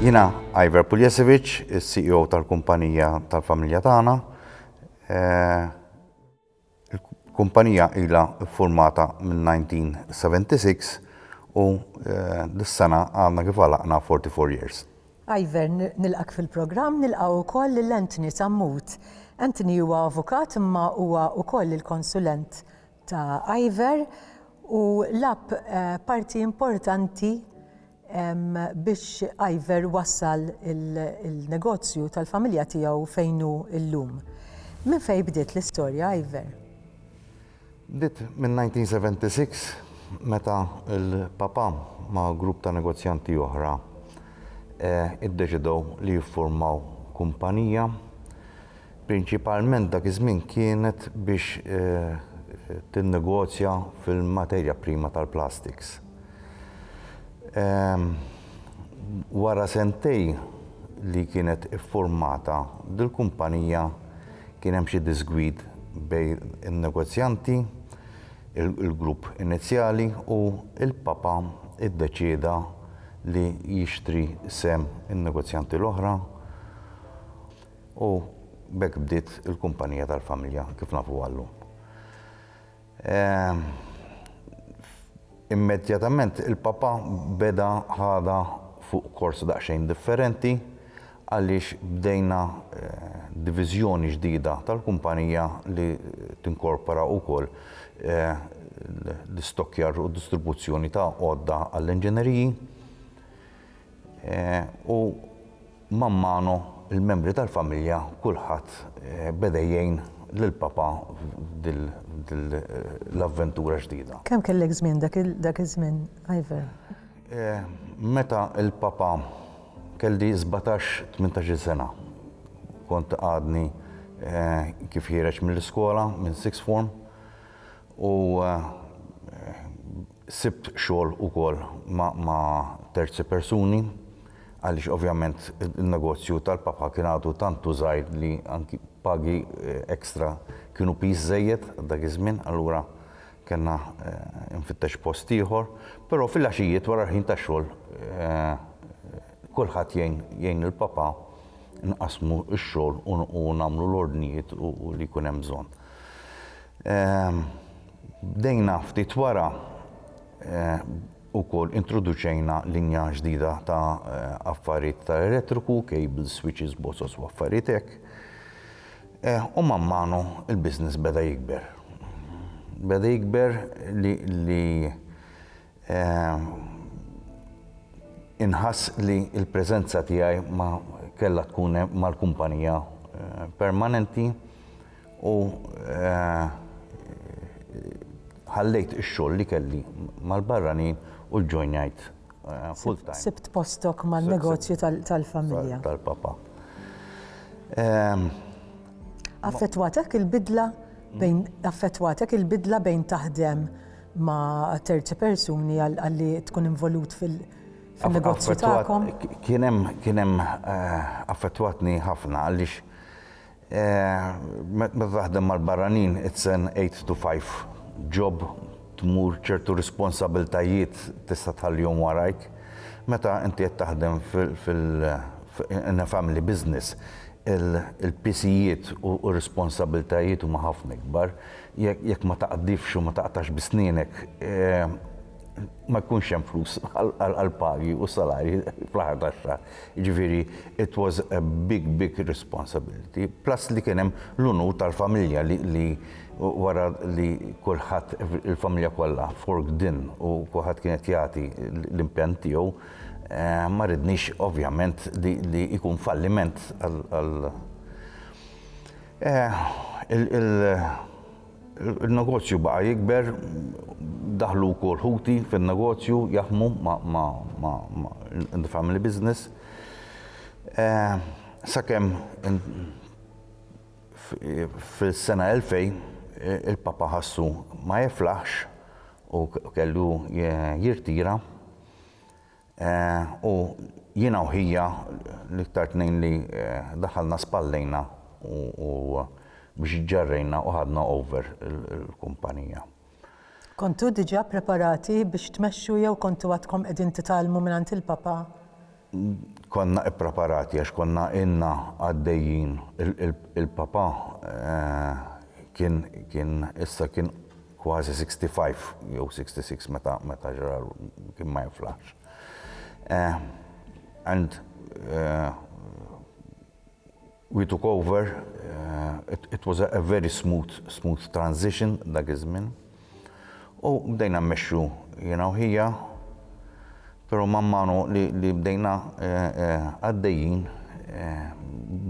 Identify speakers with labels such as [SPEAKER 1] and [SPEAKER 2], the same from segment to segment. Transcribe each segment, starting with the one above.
[SPEAKER 1] Jina Iver Puljesevic, il-CEO tal-kumpanija tal-familja tagħna. Eh, il-kumpanija ila formata minn 1976 u eh, dis-sena għandna kif għalaqna 44 years. Iver,
[SPEAKER 2] nilqak fil-programm nilqaw ukoll lil Anthony Sammut. Anthony huwa avukat imma huwa ukoll il-konsulent ta' Iver u lab parti importanti biex Iver wassal il-negozju tal-familja tiegħu fejn hu llum. Minn fejn bdiet l-istorja Iver?
[SPEAKER 1] Bdiet min-1976 meta l-papà ma' grupp ta' negozjanti oħra iddeċidew li jiffurmaw kumpanija Prinċipalment dak iż-żmien kienet biex tinnegozja fil-materja prima tal-plastiks. Wara sentejn li kienet iffurmata dil-kumpanija kien hemm xi diżgwid bejn in-negozjanti, il-grupp inizjali u l-Papa iddeċieda li jixtri sehem in-negozjanti l-oħra. U b'hekk bdiet il-kumpanija tal-familja kif nafuha llum. Immedjatament il-papà beda ħadha fuq kors daqsxejn differenti għaliex bdejna diviżjoni ġdida tal-kumpanija li tinkorpora wkoll l-istokkjar u d-distribuzzjoni ta' għodda għall-inġineriji. U man mano l-membri tal-familja kulħadd beda jgħin lil Papa f'dil l-avventura ġdida. Kemm kellek żmien
[SPEAKER 2] dak iż-żmien, Ivor?
[SPEAKER 1] Meta l-Papa kelli sbatax, tmintax-il sena. Kont għadni kif ħiereġ mill-iskola, minn sixth form, u Sibt xogħol ukoll ma' terzi persuni għaliex ovvjament in-negozju tal-papà kien għadu tant u żgħir li anki pagi extra kienu piż żejjed għal dak iż-żmien allura kellna infittex post ieħor. Però fil-għaxijiet wara l-ħin tax-xogħol kulħadd jgħin jgħin lill-papà nqassmu x-xogħol u nagħmlu l-ordnijiet u li jkun hemm bżonn. Bdejna ftit wara wkoll introduċejna linja ġdida ta' affarijiet ta' elettriku, cables, switches, boxes u affarijiet hekk. U man manu l-business beda jikber. Beda jikber li Inħass li l-preżenza tiegħi ma kellha tkun mal-kumpanija permanenti u ħallejt ix-xogħol li kelli mal-barranin u ġġojnajt full-time. Sibt postok
[SPEAKER 2] man-negozju tal-familja. Tal-papà. Affettwatek il-bidla bejn affettwatek il-bidla bejn taħdem ma' terzi persuni għalli tkun involut fil- negozju tagħkom. Kien
[SPEAKER 1] hemm eh, affettwatni ħafna għaliex eh, meta taħdem mal-barranin it's an 8 to 5 job tmur ċertu responsabiltajiet tista' tħallihom warajk. Meta inti qed taħdem fil family business il-pisijiet u responsabiltajiet huma ħafna ikbar. jekk ma taqdifx u ma taqtax bi snienek ma jkunx hemm flus għall-pagi u salarji fl-aħħar tax-xahar. Jiġifieri it was a big big responsibility. Plus li kien hemm l-unur tal-familja li wara li kulħadd il-familja kollha forked in u kulħadd kien qed jagħti l-impenn tiegħu, ma ridniex ovvjament li jkun falliment għal Il-negozju baqa' jikber, daħlu wkoll ħuti fin-negozju, jaħdmu in the family business. Sakemm fis-sena 2000 il-Papa ħassu ma jiflaħx u kellu jirtira. U jiena u ħija l-iktar tnejn li daħalna spallejna u biex ġġarrejna u ħadna over il-kumpanija.
[SPEAKER 2] Kontu diġà ppreparati biex tmexxu jew kontu għadkom qegħdin titgħallmu mingħand il-Papa?
[SPEAKER 1] Konna ppreparati għax konna ilna għaddejjin. Il-Papa kien issa kien kważi 65 jew 66 meta meta ġara kien ma jiflaħx. Eh, and eh, we took over, eh, it, it was a, a very smooth, smooth transition dak iż-żmien. U bdejna mmexxu jiena u ħija, però mammanu li, li bdejna għaddejjin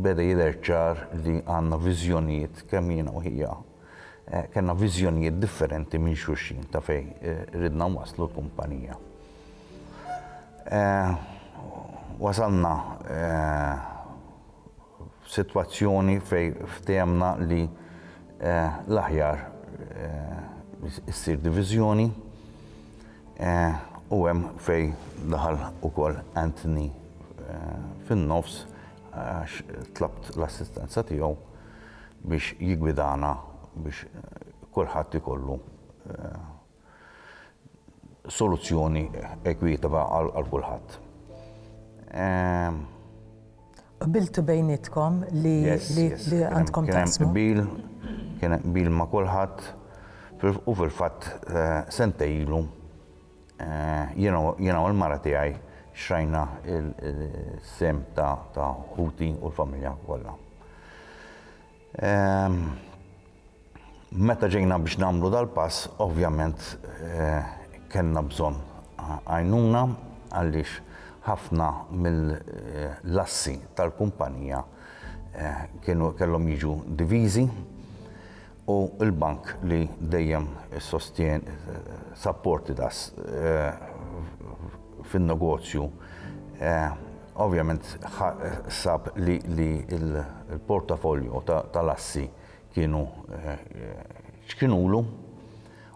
[SPEAKER 1] beda jidher ċar li għandna viżjonijiet kemm jiena u ħija Kellna viżjonijiet differenti minn xulxin ta' fejn ridna nwasslu l-kumpanija. Wasalna f'sitwazzjoni fejn ftehemna li l-aħjar issir diviżjoni u hemm fejn daħal ukoll Anthony fin-nofs għax tlabt l-assistenza tiegħu. biex jiggwidana biex kulħadd ikollu soluzzjoni ekwitwa għal kulħadd.
[SPEAKER 2] Qbiltu bejnietkom li għandkom taqsmu? Kien hemm qbil, kien
[SPEAKER 1] hemm qbil ma' kulħadd u fil-fatt sentejn ilu Jiena u l-mara tiegħi xtrajna s-sehem ta' ħuti u l-familja kollha. Meta ġejna biex nagħmlu dal-pass, ovvjament kellna bżonn għajnuna għaliex ħafna mill-assi tal-kumpanija kellhom jiġu diviżi u l-Bank li dejjem sostien supported us fin-negozju ovvjament sab li l-portafolio tal-assi kienu ċkinulu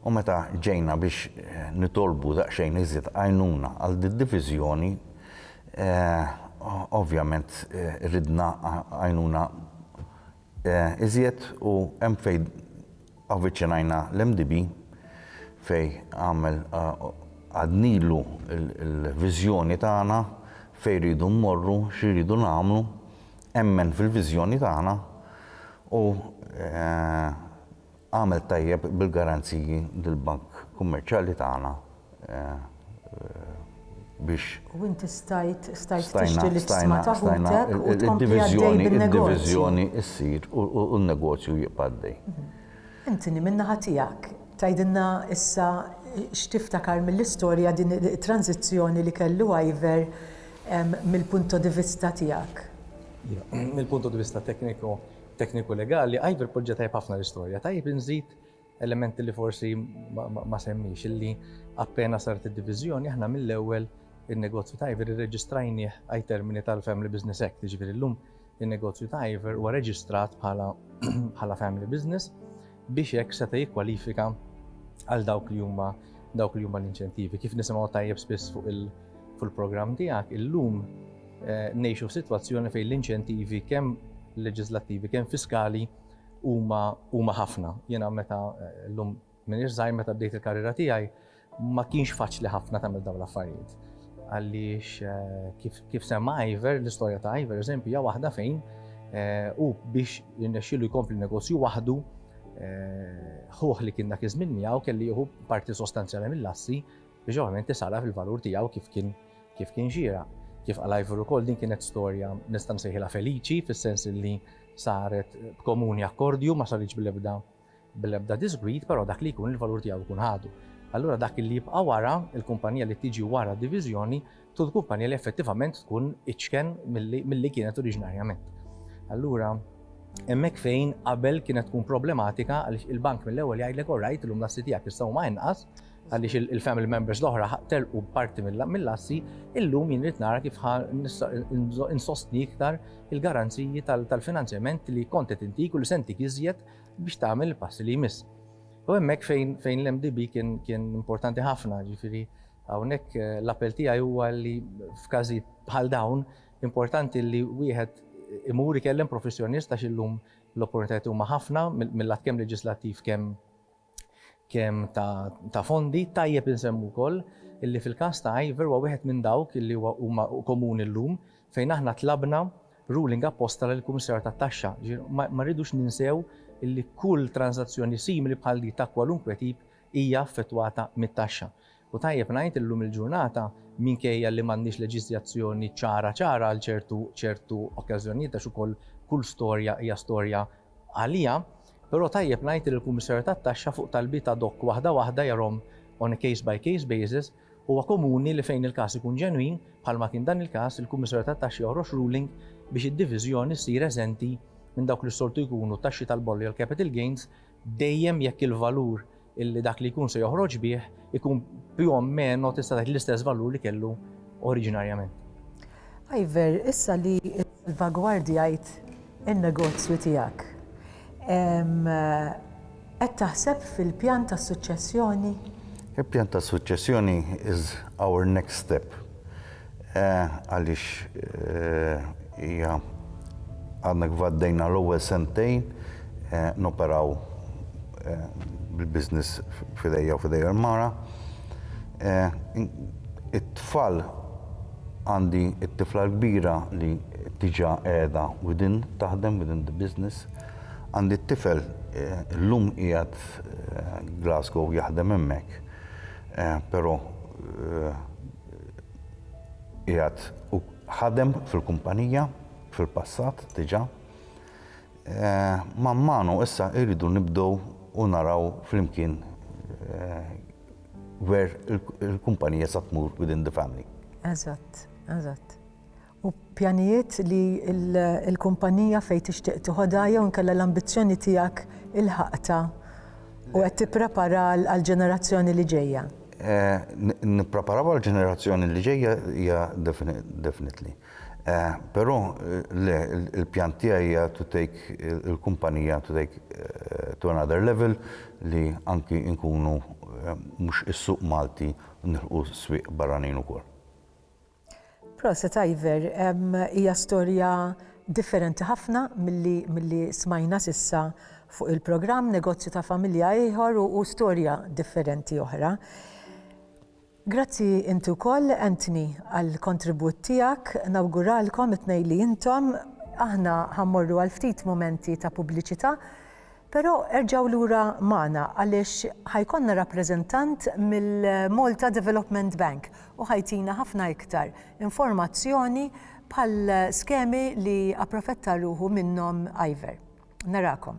[SPEAKER 1] u meta ġejna biex nitolbu daqsxejn iżjed għajnuna għal did-diviżjoni ovvjament ridna għajnuna Iżjed u hemm fejn avviċinajna l-MDB fejn għamel għadnilu l-viżjoni tagħna fejn rridu mmorru, xi rridu nagħmlu, emmen fil-viżjoni tagħna u Għamel tajjeb bil-garanziji dil-Bank Kummerċjali tagħna biex. U inti stajt
[SPEAKER 2] tixtri l-iksma ta' ħutek u tkompli għaddej bin-negozju. Id-diviżjoni ssir
[SPEAKER 1] u n-negozju jibqa' għaddej. Anthony,
[SPEAKER 2] min-naħa tiegħek, tgħidilna issa x'tiftakar mill-istorja din it-tranżizzjoni li kellu Ivor mill-punto di vista tiegħek?
[SPEAKER 3] Mill-punto di vista tekniku, Tekniku legali, Ivor poġġa tajjeb ħafna l-istorja. Tajjeb inżid elementi li forsi ma semmiex illi appena saret id-diviżjoni aħna mill-ewwel in-negozju ta' Ivor irreġistrajnieh ai termini tal-Family Business Act, jiġifieri llum in-negozju ta' Ivor huwa reġistrat bħala family business biex hekk seta' jikkwalifika għal dawk li huma dawk li huma l-inċentivi. Kif nisimgħu tajjeb spiss fuq il-programm tiegħek, illum eh, ngħixu f'sitwazzjoni fejn l-inċentivi kemm leġislattivi kemm fiskali huma ħafna. Jiena meta eh, llum minn irżaj meta bdejt il-karriera tiegħi, Ma kienx faċli ħafna tagħmel dawn l-affarijiet għaliex eh, kif semma Iver, l-istorja ta' Iver, eżempju, hija waħda fejn eh, u biex jirnexxilu jkompli negozju waħdu eh, ħuħ li kien dak iż-żmien miegħu kelli jieħu parti sostanzjali mill-assi biex ovvjament tisala fil-valur tiegħu kif kien kif kien ġira. Kif għal Iver ukoll din kienet storja nista' nsejħilha feliċi fis-sens li saret b'komuni akkordju ma saritx bil-ebda bl-ebda disgwid, però dak li jkun il-valur tiegħu jkun ħadu. Allura dak li jibqa' wara, il-kumpanija li tiġi wara d-diviżjoni, tkun kumpanija li effettivament tkun iċken milli kienet oriġinarjament. Allura hemmhekk fejn qabel kienet tkun problematika għaliex il-bank mill-ewwel jgħidlek all right illum l-assi tiegħek issa huma inqas għaliex il-family members l-oħra telqu parti mill-assi, illum jien rrid nara kif insostni iktar il-garanziji tal-finanzjament li kont qed intik u li se ntik iżjed biex tagħmel il-passi li jmiss. U hemmhekk fejn fejn l-MDB kien kien importanti ħafna, ġifieri hawnhekk eh, l-appell tiegħi huwa li f'każi bħal dawn importanti li wieħed imur ikellem professjonist għax illum l-opportunitajiet huma ħafna mill-lat kemm leġislattiv kemm kemm ta' fondi, tajjeb insemmu wkoll illi fil-każ ta' Ivor huwa wieħed minn dawk illi huwa huma komuni llum fejn aħna tlabna ruling apposta lill-Kummissarju tat-Taxxa. Jiġifieri ma rridux ninsew illi kull tranżazzjoni simili bħal din ta' kwalunkwe tip hija affettwata mit-taxxa. U tajjeb ngħid illum il-ġurnata, minkejja li m'għandniex leġiżjazzjoni ċara ċara għal ċertu ċertu okkażjonijiet għax ukoll kull storja hija storja għaliha, però tajjeb ngħid li l-Kummissarju tat-Taxxa fuq talbiet ad hoc waħda waħda jarahom on a case by case basis, huwa komuni li fejn il-każ ikun ġenwin, bħalma kien dan il-każ, il-Kummissarju tat-Taxxa joħroġ ruling biex id-diviżjoni ssir eżenti minn dawk li s-soltu jkunu t-taxxi tal-bollo jew l-capital gains dejjem jekk il-valur illi dak li jkun se joħroġ bih ikun più o meno tista' tgħid l-istess valur li kellu oriġinarjament.
[SPEAKER 2] Iver, issa li salvagwardjajt in-negozju tiegħek, qed taħseb fil-pjan ta' suċċessjoni? Il-pjan ta'
[SPEAKER 1] suċċessjoni is our next step. Għaliex hija għadna kif għaddejna l-ewwel sentejn noperaw bil-business f'idejja u f'idejha l-mara. It-tfal għandi t-tifla l-kbira li diġà qiegħda within taħdem, within the business. Għandi t-tifel illum qiegħed Glasgow jaħdem hemmhekk, però, qiegħed u ħadem fil-kumpanija fil-passat diġà. Man manu issa irridu nibdew u naraw flimkien where il-kumpanija sa tmur within the family. Eżatt,
[SPEAKER 2] eżatt. u pjanijiet li l-kumpanija fejn tixtieq tiħodha jew inkella l-ambizzjoni tiegħek ilħaqtha u qed tipprepara għall-ġenerazzjoni li ġejja?
[SPEAKER 1] Nippreparaw għall-ġenerazzjoni li ġejja hija definitely. Però le, il-pjan tiegħi hija to take il-kumpanija to take to another level li anki nkunu mhux is-suq Malti nilħqu s-swieq barranin ukoll.
[SPEAKER 2] Proset Ivor, hija storja differenti ħafna milli milli smajna s'issa fuq il-programm, negozju ta' familja ieħor u u storja differenti oħra. Grazzi inti wkoll Anthony għall-kontribut tiegħek, nawguralkom it-tnejn li intom, aħna ħa mmorru għal ftit mumenti ta' pubbliċità, Però erġgħu lura magħna għaliex ħa jkollna rappreżentant mill-Malta Development Bank u ħa jtina ħafna iktar informazzjoni bħal skemi li approfetta ruħu minnhom Iver. Narakom.